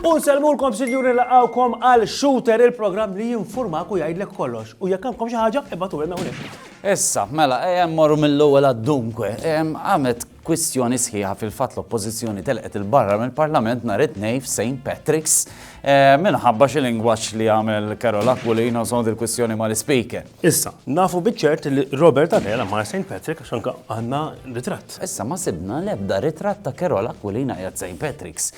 U nsalmulkom sinjuri laqawkom għal Shooter il-programm li jinformak u jgħidlek kollox. U jekk għandkom xi ħaġa, ibatu għalna Issa, mela, ejem morru mill-ewwel għad-dunkwe, ejem għamet Kwistjoni sħiħa fil-fatt l-Oppożizzjoni telqet 'il barra mill-Parlament nhar it-Tnejn f'Saint Patrick's minħabba xi lingwaġġ li għamel Carol Aquilino sond il-kwistjoni mal-Ispeaker. Issa, nafu biċ-ċert li Robert Abela mar Saint Patrick għax anke għandna ritratt. Issa ma sibna l-ebda ritratt ta' Carol Aquilina qiegħed Saint Patrick's.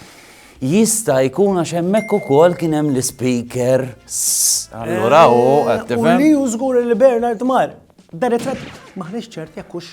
Jista' jkun għax hemmhekk ukoll kien hemm l-Ispeaker. Allura hu qed tifhem. U li hu żgur li Bernard mar. Da ritratt maħniex ċert jekk hux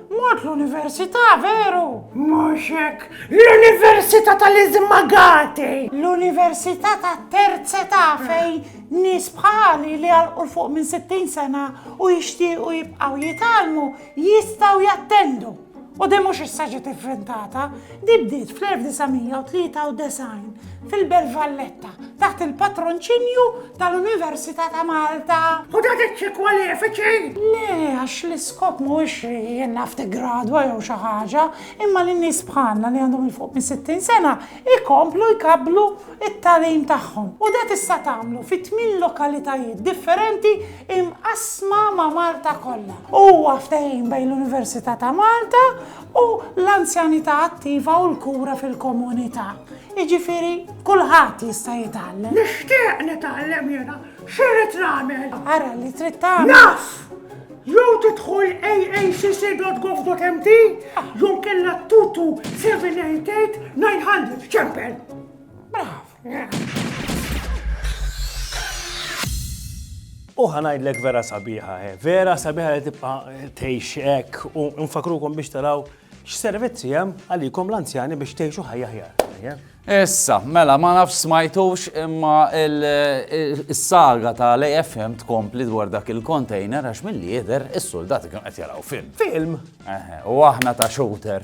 Mort l-università, veru? Mhux hekk. L-università tal-iżmagati! L-università tat-terz età fejn nies bħali li għalqu l fuq minn 60 sena u jixtiequ jibqgħu jitgħallmu jistgħu jattendu. U din mhux issa ġiet ivventata, Din bdiet fl-1993 fil-Belt Valletta taħt il-patronċinju tal-Università ta' Malta. U dat iċ-ċi kwalifiċi? Le, għax l-iskop mhuwiex li in-NAF tiggradwa jew xi ħaġa, imma li nies bħalna li għandhom 'il fuq minn 60 sena jkomplu jkabblu t-tagħlim tagħhom. U dat issa tagħmlu fi tmien lokalitajiet differenti imqassma ma' Malta kollha. Huwa ftehim bejn l-Università ta' Malta u l-anzjanità attiva u l-kura fil-komunità. Jiġifieri kulħadd jista' jitgħallem. Nixtieq nitgħallem jiena, x'irid nagħmel? Ara li trid tagħmel. Naf! Jew tidħol aacc.gov.mt jew kellha 22788 900. Ċempel! Brav! U ħanajdlek vera sabiħa, eh. vera sabiħa li tibqa tejxek u nfakrukom biex taraw x'servizzi hemm għalikom l-anzjani biex tgħixu ħajja ħjar. Eh. Issa, mela, ma nafx smajtux imma il-saga ta' l-AFM tkompli dwar dak il-kontejner għax mill-li jider il-soldati kienu qed jaraw film. Film? U aħna ta' shooter.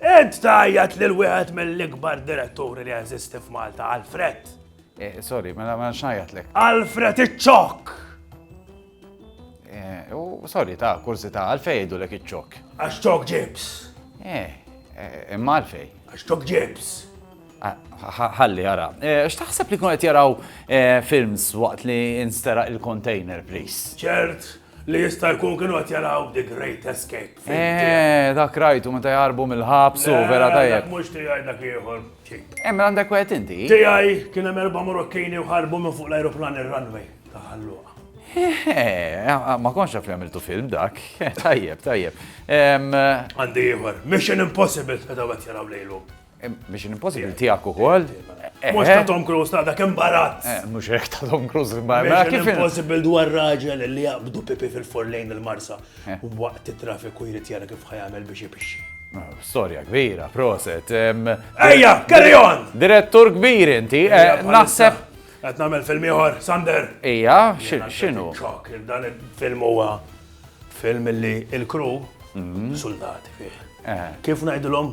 Int tajjat lil wieħed mill-ikbar diretturi li jeżisti f'Malta, Alfred. Eh, sorry, mela ma xnajat lek. Alfred iċ-ċok! Eh, u sorry, ta' kursi ta' għalfej jgħidu lek iċ-ċok. Għax ċok ġibs. Eh, eh imma għalfej. Għax ċok ġibs. Ah, ħalli għara. Eh, x'taħseb li kun qed jaraw films waqt li nstera il-container, please? ċert, Li jista' jkun kienu qed jaraw The Great Escape. Eh, dak rajtu meta jarbu mill-ħabs u vera tajjeb. Mhux tiegħi dak ieħor. Hemm għandek wieħed inti? Tiegħi kien hemm erba' Morokkini u ħarbu minn fuq l-ajruplan ir-runway ta' ħalluqa. Eh, ma konx li għamiltu film dak. Tajjeb, tajjeb. Għandi ieħor. Mission Impossible meta qed jaraw lejlu. Mission Impossible tiegħek ukoll. Mhux ta' Tom Cruise ta' dak imbarazz. Eh, mhux hekk ta' Tom Cruise imbarazz. Mela, Mission Impossible dwar raġel li jaqbdu pipi fil-fur lejn il-Marsa eh. u waqt it-traffiku jrid jara kif ħajamel biex ipixxi. Ah, storja kbira, proset. Ejja, carry on! Direttur kbir inti, eh, naħseb. Qed nagħmel film ieħor, Sander. Ejja, x'inhu? Ċok, dan il-film huwa film li il-kru mhm. soldati fih. Kif ngħidilhom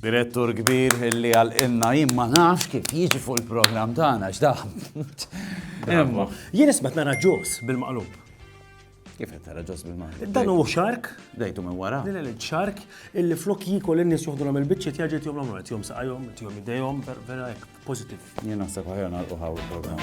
Direttur kbir li għalqilna jien ma nafx kif jiġi fuq il-programm tagħna x'daħm. Imma jien ismet nara ġos bil-maqlub. Kif qed tara ġos bil-maqlub? Dan hu xark. Dejtu minn wara. Din il xark illi flok jikol in-nies joħdulhom il-biċċiet jaġi tihom l-omru qed jom saqajhom, tihom idejhom, vera hekk pożittiv. Jien naħseb ħajja nagħlqu ħaw il-programm.